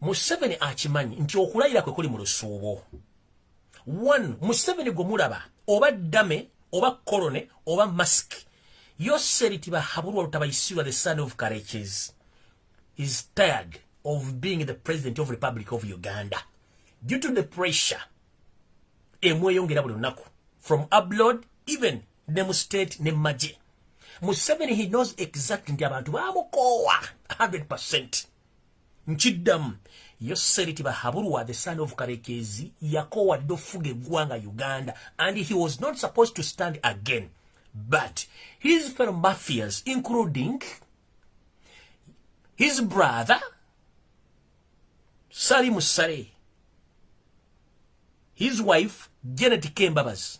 museveni akimanyi nti okulayira kwe kuli mu lusuubo one museveni gwe mulaba oba dame oba korone oba mask yoseriti bahabulwa lutabayisirwa the son of courages is tired of being the president of republic of uganda due to the pressure emweyongera buli lunaku from abroad even ne mu state ne maje museveni he knows exact nti abantu bamukoowa 100 nkiddamu yo seriti bahabulwa the son of karekezi yakoowa dde okufuga eggwanga uganda and he was not supposed to stand again but his fellow mafias including his brother sali musare his wife janet kembabazi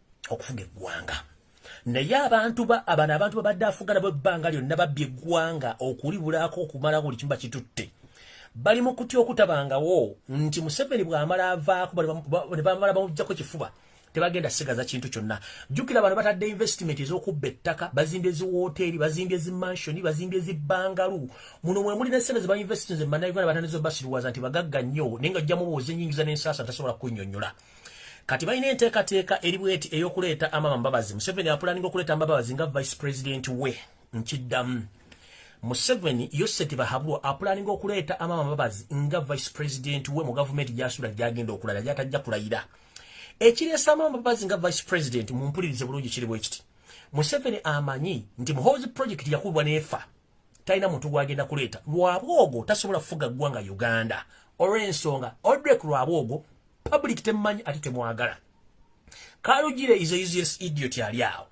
okufuga eggwanga naye abantu ba abana abantu babadde afuga nabo ebbanga lyonna babbye eggwanga okulibulaako okumala buli kimu bakitutte bali mu kutya okutabangawo nti museveni bw'amala avaako ne bamala bamuggyako kifuba tebagenda sigaza kintu kyonna jjukira abantu batadde investment ez'okubba ettaka bazimbye eziwooteeri bazimbye ezimansioni bazimbye ezibangalu muno mwe muli nesente ze bainvestinze manauganda batandiza obasiruwaza nti bagagga nnyo naye nga jjamubuuza enyingiza n'ensaasa tasobola kunyonyola kati balina enteekateeka eri bweti ey'okuleeta amama mbabazi museveni apulaninga okuleeta mbabazi nga vice president we nkiddamu museveni yoseti bahabulwa apulaninga okuleeta amama mbabazi nga vice president we mu gavumenti gyasuula gyagenda okulala gyatajja kulayira ekireesa amama mbabazi nga vice president mumpulirize bulungi kiri bwekiti museveni amanyi nti muhoozi project yakubwa neefa talina muntu gwagenda kuleeta lwabwogo tasobola kufuga ggwanga uganda olw'ensonga odrek lwabwogo public temumanyi ate temwagala kalugire is a useless idiot ali awo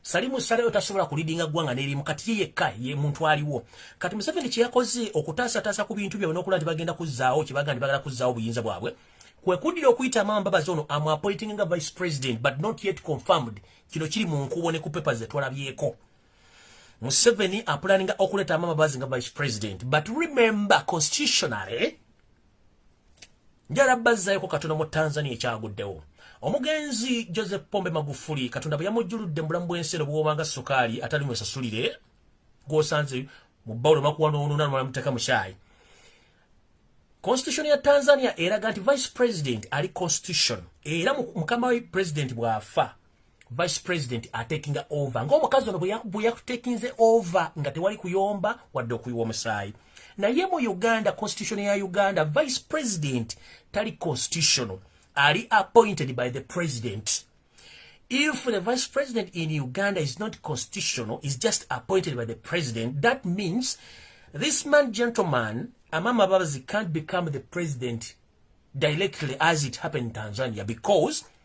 salimu saleyo tasobola kulidinga ggwanga n'erimu kati ye yekka ye muntu aliwo kati museveni kye yakoze okutaasataasa ku bintu byabwe n'okulaba nti bagenda kuzzaawo kye bagamba nti bagala kuzzaawo obuyinza bwabwe kwe kuddira okuyita maama mbabazi ono amuapoitinga nga vice president but not yet confirmed kino kiri mu nkubo ne ku papers zetwalabyeko Museveni apulaninga okuleta amama bazi nga vice president but remember constitutionally njala bazzayoko katono mu Tanzania ekyaguddewo omugenzi Joseph Pombe Magufuli katonda bwe yamujjuludde mu bulamu bw'ensi eno bw'obanga sukaali atali mu esasulire gw'osanze mu bbawulo makuwa n'onoona lumala muteeka mu kyayi constitution ya Tanzania eraga nti vice president ali constitution era mukama we president bw'afa vice president atekinga over ngaomukazi ono bweyakutekinze over nga tewali kuyomba wadde okuyiwa omusaayi naye mu uganda constitution ya uganda vice president tali constitutional ali appointed by the president if the vice president in uganda is not constitutional is just appointed by the president that means this man gentleman amama babazi can't become the president directly as it happened in tanzania because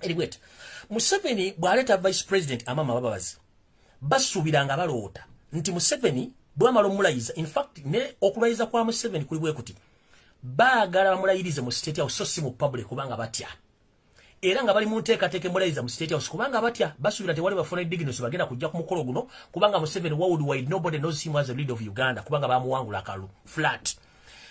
eriwet museveni bwaleeta vice president amama bababazi basuubira nga baloota nti museveni bwamala omulayiza infact ne okulayiza kwa museveni kuli bwe kuti baagala bamulayirize mu state house so si mu public kubanga batya era nga bali mu nteekateeka emulayiza mu state house kubanga batya basuubira tewali bafuna dignity bagenda kujja ku mukolo guno kubanga museveni worldwide nobody knows him as a leader of uganda kubanga bamuwangula akalu flat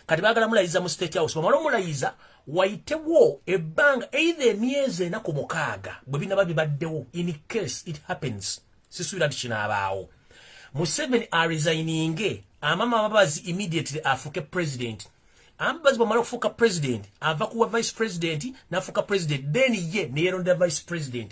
kati bagala mulayiza mu state house bamala omulayiza wayitewo ebbanga eitha emyezi ena ku mukaaga bwe binaba bibaddewo in case it happens sisuubira nti kinaabaawo museveni aresigninge amama ababazi immediately afuuke president ambazi bwamala okufuuka president ava kuwa vice president nafuuka president then ye neyerondera vice president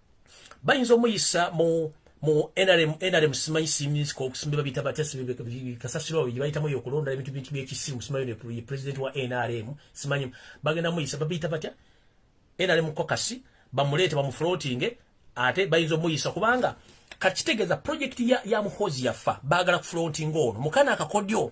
bayinza omuyisa mu mu nrm nrm simanyi siminsi kokusimbe babita batya kasasiro awo gyebayitamu eyo okulonda ebintu bintu byekisimu simanyi ne president wa nrm simanyi bagenda muyisa babiyita batya nrm kokasi bamuleete bamuflotinge ate bayinza omuyisa kubanga kakitegeeza projekiti ya, ya muhozi yafa baagala kuflotinga ono mukana akakodyo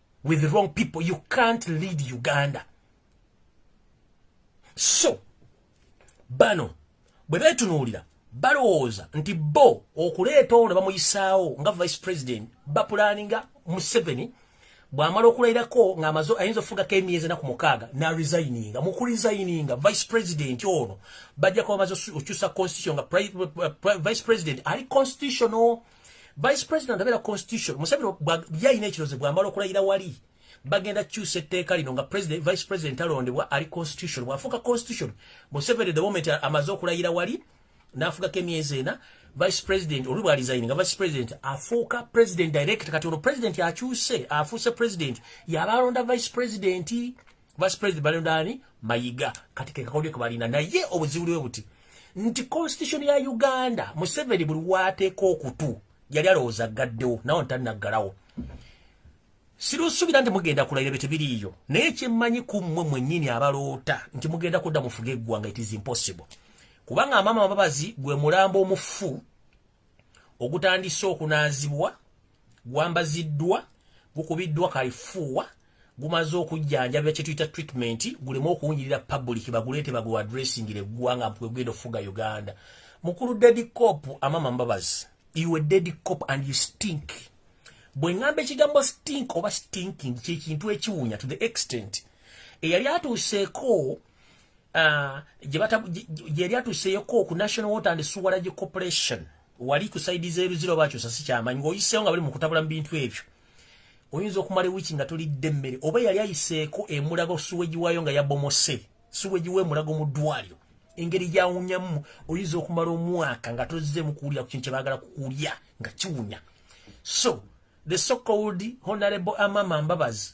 with wrong people you can't lead uganda so bano bwe betunuulira balowooza nti bo okuleeta ono bamuyisaawo nga vice president bapulaninga museveni bwamala okulayirako ngaamaze ayinza okufugako emyezi enaku mukaaga naresigninga mukuresigninga vice president ono bajja kuba bamaze okyusa constitution nga vice president ali constitutional vice president abeera constitution museveni byalina ekirozo bwamala okulayira wali bagenda kyusa etteeka lino nga president vice president alondebwa ali constitution bwafuuka constitution museveni the moment amaze okulayira wali n'afugako emyezi ena vice president oli bwalizaini nga vice president afuuka president direct kati ono president akyuse afuuse president yabaalonda vice president vice president balondani mayiga kati kekakodyo kebalina naye obuzibu lwe buti nti constitution ya uganda museveni buli wateeka okutu yali alowooza gaddewo nawo ntanaggalawo sirusuubira nti mugenda kulayira bye tebiriiyo naye kyemmanyi ku mmwe mwennyini abaloota nti mugenda kudda mufuga eggwanga it is impossible kubanga amaama ababazi gwe mulambo omufu ogutandise okunaazibwa gwambaziddwa gukubiddwa kaifuuwa gumaze okujjanjabira kyetuyita treatment guleme okuwunyirira public baguleete bagwe adressingire eggwanga mpwegenda okufuga uganda mukulu dedi cop amama mbabazi you a dedi cop and you stink bwe ŋŋamba ekigambo stink oba stinking kyekintu ekiwunya to the extent eyali atuuseeko ah, gyeyali atuseeko ku national water and suwarage corporation wali ku saidi zeruzira oba akyusa sikyamanyi ngaoyiseewo nga bali mu kutabula mu bintu ebyo oyinza okumala ewiki nga tolidde emmere oba yali ayiseeko emulago suweji waayo nga yabomose suweji wemulago mu ddwaliro engeri gyawunyamu oyinza okumala omwaka nga tozzeemu kuwulira ku kintu kyebaagala kukulya nga kiwunya so the so called honorable amama mbabazi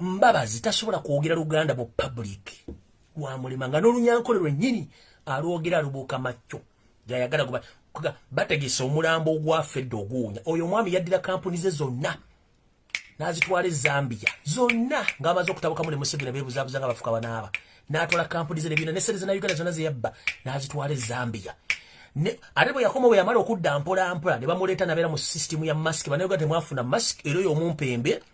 mbabazi tasobola kwogera luganda mu public lwamulema nga n'olunyankole lwennyini alwogera alubuuka macco gayagala guba bategese omulambo ogwafedde oguwunya oyo omwami yaddira kampuni ze zonna n'azitwala ezambiya zonna ng'amaze okutabukamu ne museveni beebuzaabuza nga bafuka banaaba n'atwala kampuni ze nebyona nesente zena uganda zonna zeyabba n'azitwala ezambiya ate bwe yakoma bwe yamala okudda mpolampola ne bamuleeta nabeera mu sisitimu ya masiki banauganda temwafuna masiki era oyo omumpembe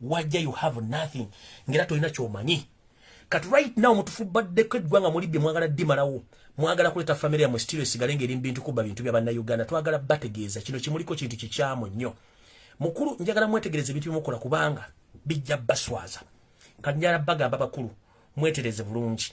wajja you have nothing ngera tolina kyomanyi kati right now mutufubbaddeko eggwanga muli bye mwagala dimalawo mwagala kuleta famire yamwe sitiro esigale ngeri mbintu kubba bintu bya bannayuganda twagala bategeeza kino kimuliko kintu kikyamu nnyo mukulu njagala mwetegereze ebintu byemukola kubanga bijja baswaza kati njala bagamba bakulu mwetereze bulungi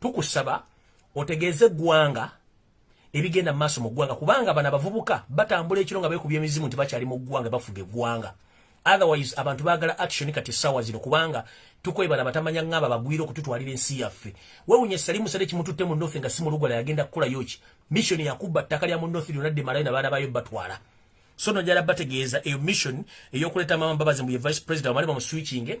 tukusaba otegeeze eggwanga ebigenda maaso mu ggwanga kubanga bano abavubuka batambula ekiro nga beekubya emizimu nti bakyali mu ggwanga bafuga eggwanga otherwise abantu baagala action kati essaawa zino kubanga tukwebala batamanya ng'aba bagwira okututwalira ensi yaffe wewunye salimu sale kimututte mu north nga si mulugwala yagenda kukolayo ki mission yakubba ttaka lya mu north lyona dde malayo nabaana bayo batwala so nojala bategeeza eyo mission eyokuleeta mama mbabazi mbuye vice president bamale bamuswikinge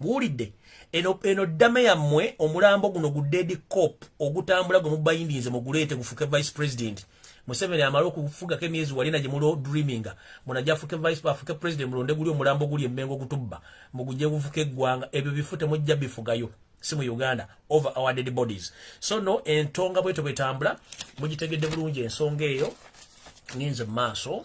buwulidde eno eno ddame yammwe omulambo guno gu dedi cop ogutambula gwe mubayindinze muguleete gufuke vice president museveni amale okufugako emyezi walina gye mulo dreaminga munaja afuke vice afuke president mulonde guli omulambo guli emmengo gutubba muguje gufuke eggwanga ebyo bifu temujja bifugayo si mu uganda over our dead bodies so no entonga bweto bwetambula mugitegedde bulungi ensonga eyo ninze mu maaso